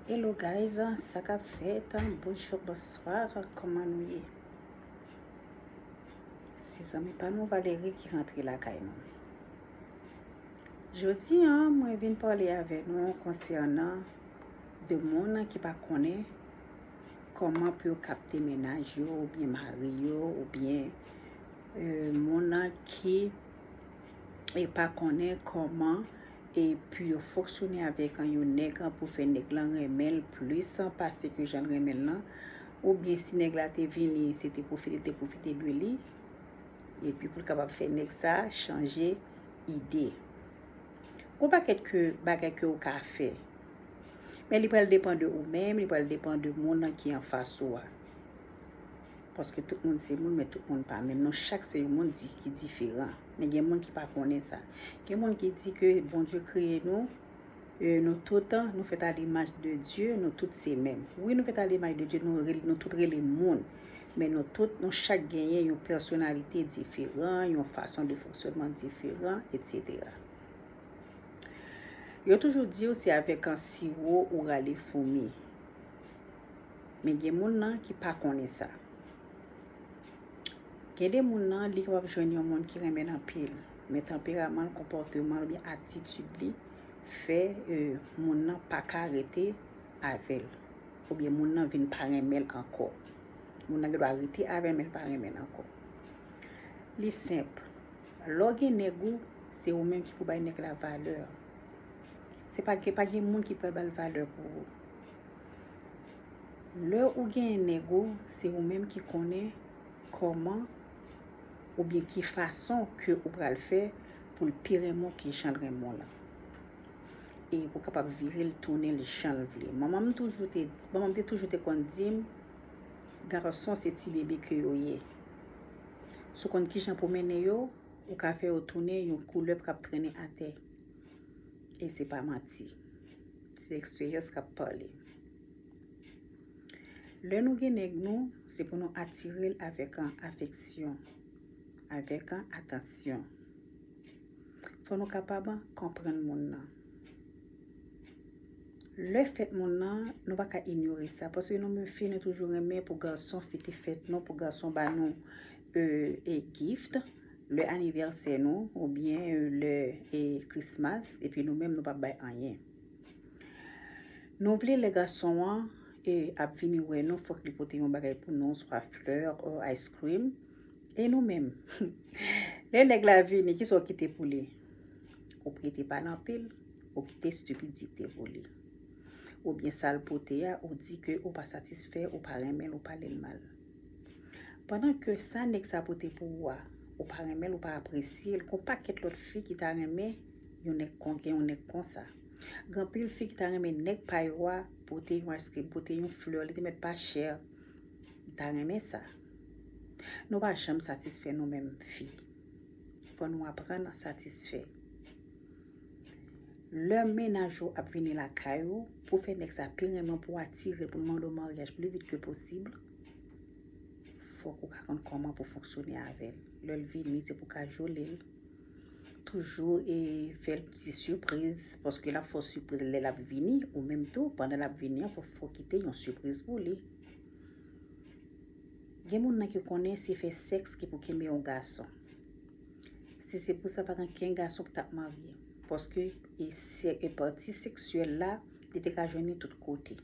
Hello guys, sa kap fèt? Bonjour, bonsoir, comment nou ye? Se zanmi pa nou Valérie ki rentre lakay nou. Jodi an, mwen vin pale avè nou konsènan de moun ki pa konnen koman pou yo kapte menaj yo ou byen mari yo ou byen euh, moun ki e pa konnen koman e pu yo foksyone avèk an yon nèg an pou fè nèg lan renmenl plis an pase ke janl renmenl lan ou byen si nèg la te vini se te pwofite te pwofite de li e pi poul kapab fè nèg sa chanje ide gon pakèt ke bagay ke ou ka fè men li pral depan de ou menm li pral depan de moun lan ki anfas ou a. Paske tout moun se moun men tout moun pa menm non chak se yon moun di ki diferan men gen moun ki pa konnen sa gen moun ki di ke Bondye kreye nou e nou tout nou fèt a l'imaj de Dye nou tout se menm wi nou fèt a l'imaj de Dye nou rele nou tout rele moun men nou tout nou chak genyen yon pèsonalite diferan yon fason de fonksyònman diferan etsetera yo toujou diw se avèk an siwo ou rale foumi. Men gen moun nan ki pa konnen sa. Gen de moun nan li kapab jwenn yon moun ki renmen l anpil. Men tanperaman l, konpòteman l oubyen atitid li fè moun nan pa ka rete avè l. Oubyen moun nan vin pa renmen l ankò. Moun nan gen dwa rete avè l men l pa renmen l ankò. Li senp. Lè w gen nèg ou, se ou menm ki pou bay nèg la valè. Se pa gen moun ki pral ba l valè pou ou. Lè ou genyen nèg ou, se ou menm ki konnen kòman oubyen ki fason ke ou pral fè pou l pi renmen w ke jan l renmen w la. E pou kapab vire l tounen l jan l vle. Manman m toujou te, manman m te toujou te konn di m, Gason se ti bebe ke yo ye. Si w konn kijan pou mennen yo, ou ka fè yo tounen yon koulèv k ap trennen atè. E se pa manti. Se eksperyans kap pale. Lè nou gen nèg nou, se pou nou atire l avèk an afeksyon, avèk an atansyon. Fò nou kapab an konprann moun nan. Lè fèt moun nan, nou pa ka inyore sa. Paske nou menm fi, nou toujou renmen pou gason fete fèt nou, pou gason ba nou e gift. lè anivèsè nou oubyen lè e krismas epi nou menm nou pap bay anyen nou vle lè gason an e ap vini wè nou fòk li pote yon bagay pou nou swa flè o ice cream e nou menm lè nèg la vini kisa ou kite pou li ou prete pa nan pil ou kite stupidite pou li oubyen sal pote a ou di ke ou pa satisfè ou pa renmen ou pale l mal. Pandan ke sa nèg sa pote pou ou a ou pa renmen l ou pa apresye l gon pakèt lòt fi ki ta renmen yon nèg kon gen yon nèg konsa gen anpil fi ki ta renmen nèg pa yo a pote yon ayskrim pote yon flè li te mèt pa chè li ta renmen sa nou pa janm satisfè nou menm fi fò nou aprann satisfè. Lè mennaj ou ap vini lakay ou, pou fè nèg sa pi renmen w, pou w atire l, pou l mande w maryaj pli vit ke posib, fòk ou ka konn kòman pou w fonksyone avè l. Lè l vini, se pou w ka jole l, toujou e fè l ti sipriz, paske l ap fè w sipriz lè l ap vini, ou menm tou, pandan l ap vini an, fò w kite yon sipriz pou li. Gen moun nan ki konnen se fè sèks ki pou kenbe yon gason. Si se pou sa pa gen ken gason ki tap marye. Paske e se e pati seksyèl la li te ka jwenn li tout kote.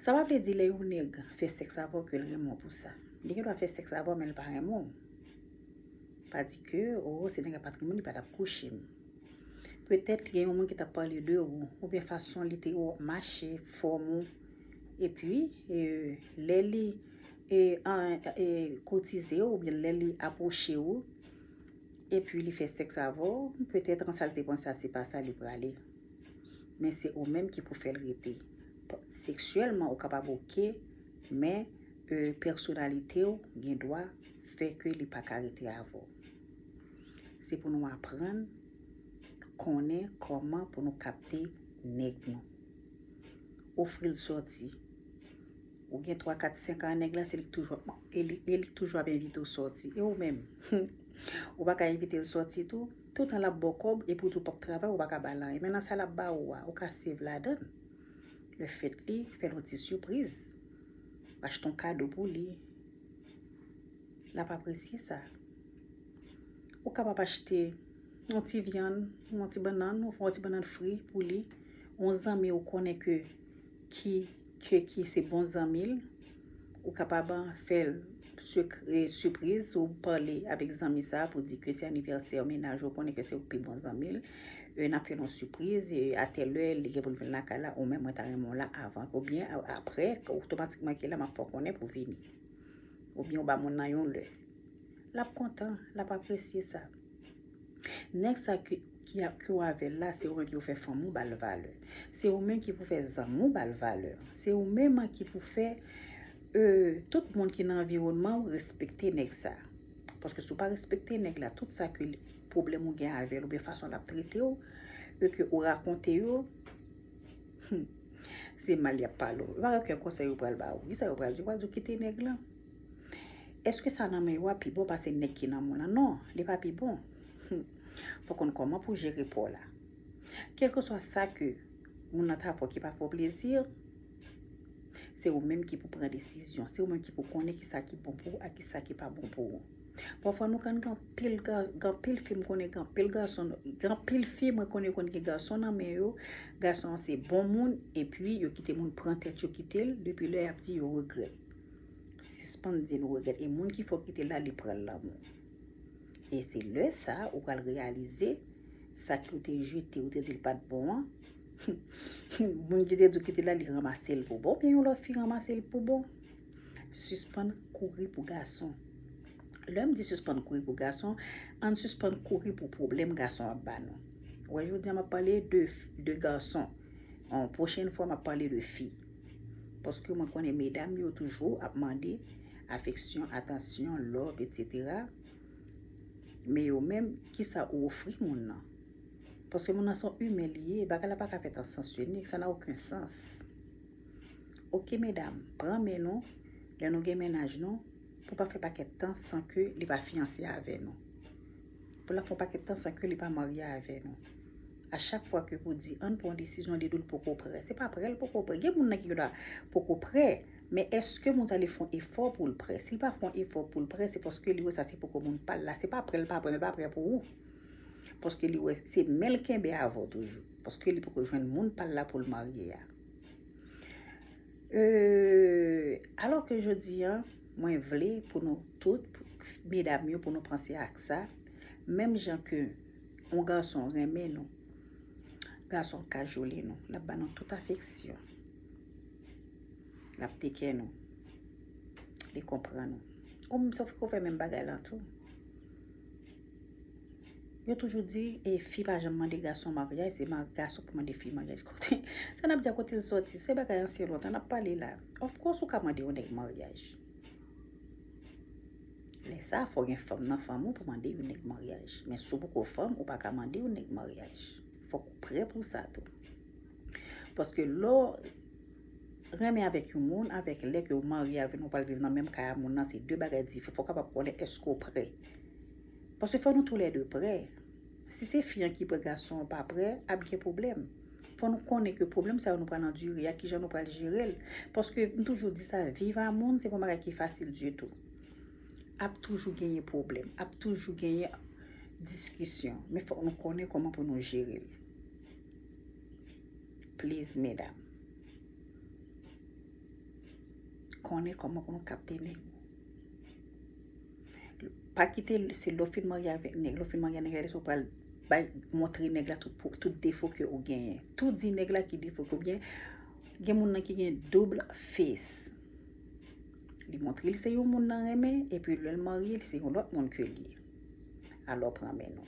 Sa pa vle di lè yon nèg fè sèks avèw ke l renmen w pou sa. Li gen dwa fè sèks avèw men li pa renmen w. Pa di ke oh si li te gen patrimon li pa tap kouche m. Petèt li gen yon moun ki tap pale de ou oubyen fason li te wè w ap mache, fòm ou. Epi e lè li. e kotize ou oubyen lè li apwoche ou epi li fè sèks avè w petèt an sa l te panse a se pa sa li prale men se ou menm ki pou fè l rete seksyèlman ou kapab oke men pèsonalite w gen dwa fè ke li pa ka rete avè w se pou nou aprann konnen kòman pou nou kapte nèg nou ofri l sòti Ou gen 3 4 5 an nèg la se li ki toujou ap e li e li ki toujou ap envite w sòti e ou menm humm ou pa ka envite l sòti tou toutan lap ba w kòb epi ou di w pap travay ou pa ka ba l anyen men nan sa lap ba ou a ou ka save ladan l le fèt li fè l yon ti sipriz achte yon kado pou li lap apresye sa ou kapab achte yon ti vyann yon ti bannann ou fè yon ti bannann fri pou li yon zanmi ou konnen ke ki ke ki se bon zanmi l ou kapab fè l sipriz ou pale avèk zanmi sa pou di ke se anivèsè yon mennaj ou konnen ke se yon pi bon zanmi l e nap fè yon sipriz e atè lè li gen pou l vin lakay la ou menm mwen ta renmen w la avan ou byen aprè otomatikman ki lè map fè w konnen pou vini ou byen ou ba moun nan yon lè. l ap kontan, l ap apresye sa. Nèg sa k yo avè l la, se ou menm ki pou fè fanmi w ba l valè. Se ou menm ki pou fè zanmi w ba l valè. Se ou menm ki pou fè tout moun ki nan anviwònman w respekte nèg sa. Paske si w pa respekte nèg la, tout sa ke pwoblèm ou gen avè l oubyen fason l ap trete w, e ke ou rakonte yo, se mal y ap pale w. Yo pa gen okenn konsèy yo pral ba w. Ki sa yo pral di w? Yo pral di w kite nèg lan. Eske sa nan men yo a pi bon pase nèg ki nan moun lan? Non, li pa pi bon. Fò konn kòman pou jere pa w la. Kelkeswa sa ke moun lan ta fè w ki pa fè w plezi, se ou menm ki pou pran desizyon. Se ou menm ki pou konnen ki sa ki bon pou ou ak ki sa ki pa bon pou ou. Pafwa nou konn gen anpil, gen anpil fi m konnen gen anpil gason, gen anpil fi mwen konnen konn gen gason nan men yo, gason an se bon moun epi yo kite moun pran tèt yo kite l, depi lè y ap di yo regrèt. Sispann di nou regrèt e moun ki fè w kite l la li pran lanmou. E se lè sa ou pral reyalize sa ki ou te jete ou te di l pa t bon an moun ki te di w kite l la li ranmase l pou bon oubyen yon lòt fi ranmase l pou bon. Sispann kouri pou gason. Lè m di sispann kouri pou gason, ann sispann kouri pou pwoblèm gason ap ba nou. Wè jodi a m ap pale de gason, pwochèn fwa m ap pale de fi. Paske mwen konnen medam yo toujou ap mande afeksyon, atansyon, love, etc. Men yo menm, kisa ou ofri moun nan? Paske moun nan son imen li ye, bagay la pa ka fèt an sans inik, sa na oken sans. Ok medam, pran men nou, lè nou gen mennaj nou, pou pa fè pakèt tan san ke li pa fiyanse avè nou. Pou lap fè yon pakèt tan san ke li pa marye avè nou. A chak fwa ke pou di ann pran yon desizyon li dil poko prè. Se pa prèl poko prè. Gen moun nan ki gen dwa poko prè, men eske moun sa li fon efò poul prè. Sil pa fon efò poul prè se paske li wè sa se poko moun pal la. Se pa prèl pa prè, men li pa prè pou ou. Paske li wè se menl kenbe avèw toujou. Paske li poko jwenn moun pal la poul marye a. Euh alò ke jodi an mwen vle pou nou tout medam yo pou nou panse ak sa menm jan ke yon gason renmen nou gason kajole nou lap ba nou tout afeksyon lap tekè nou li konprann ou ou menm sa ou fè menm bagay lan tou. Yo toujou di e fi pa janm mande gason maryaj se gason ki mande fi maryaj kote sa nap di a kotel soti se bagay ansyen lontan nap pale la of kos ou ka mande yon nèg maryaj lèsa fò gen fanm nan fanm ou pou mande yon nèg maryaj men sou poko fanm ou paka mande yon nèg maryaj fòk ou prè pou sa tou paske lò renmen avèk yon moun avèk lè ke ou marye avèl nou pral viv nan menm kay a moun nan se de bagay diferan fòk ou kapab konnen eske ou prè Paske fò nou tou lè 2 prè. Si se fi an ki prè gason an pa prè, ap gen pwoblèm. Fò nou konnen ke pwoblèm sa yo nou pral andire a, kijan nou pral jere l. Paske m toujou di sa, viv a moun se pa yon bagay ki fasil ditou. Ap toujou genyen pwoblèm, ap toujou genyen diskisyon. Men fòk nou konnen kòman pou nou jere l. Please medam. Konnen kòman pou nou kapte nèg. Pa kite se lè w fin marye avèk nèg, lè w fin marye ak nèg la lè sa w pral bay montre nèg la tout defo ke ou genyen. Tou di nèg la ki defo ke ou genyen. Gen moun nan ki gen double face. Li montre l se yon moun nan renmen epi lè l marye l se yon lòt moun ke l ye. Alò pran men nou.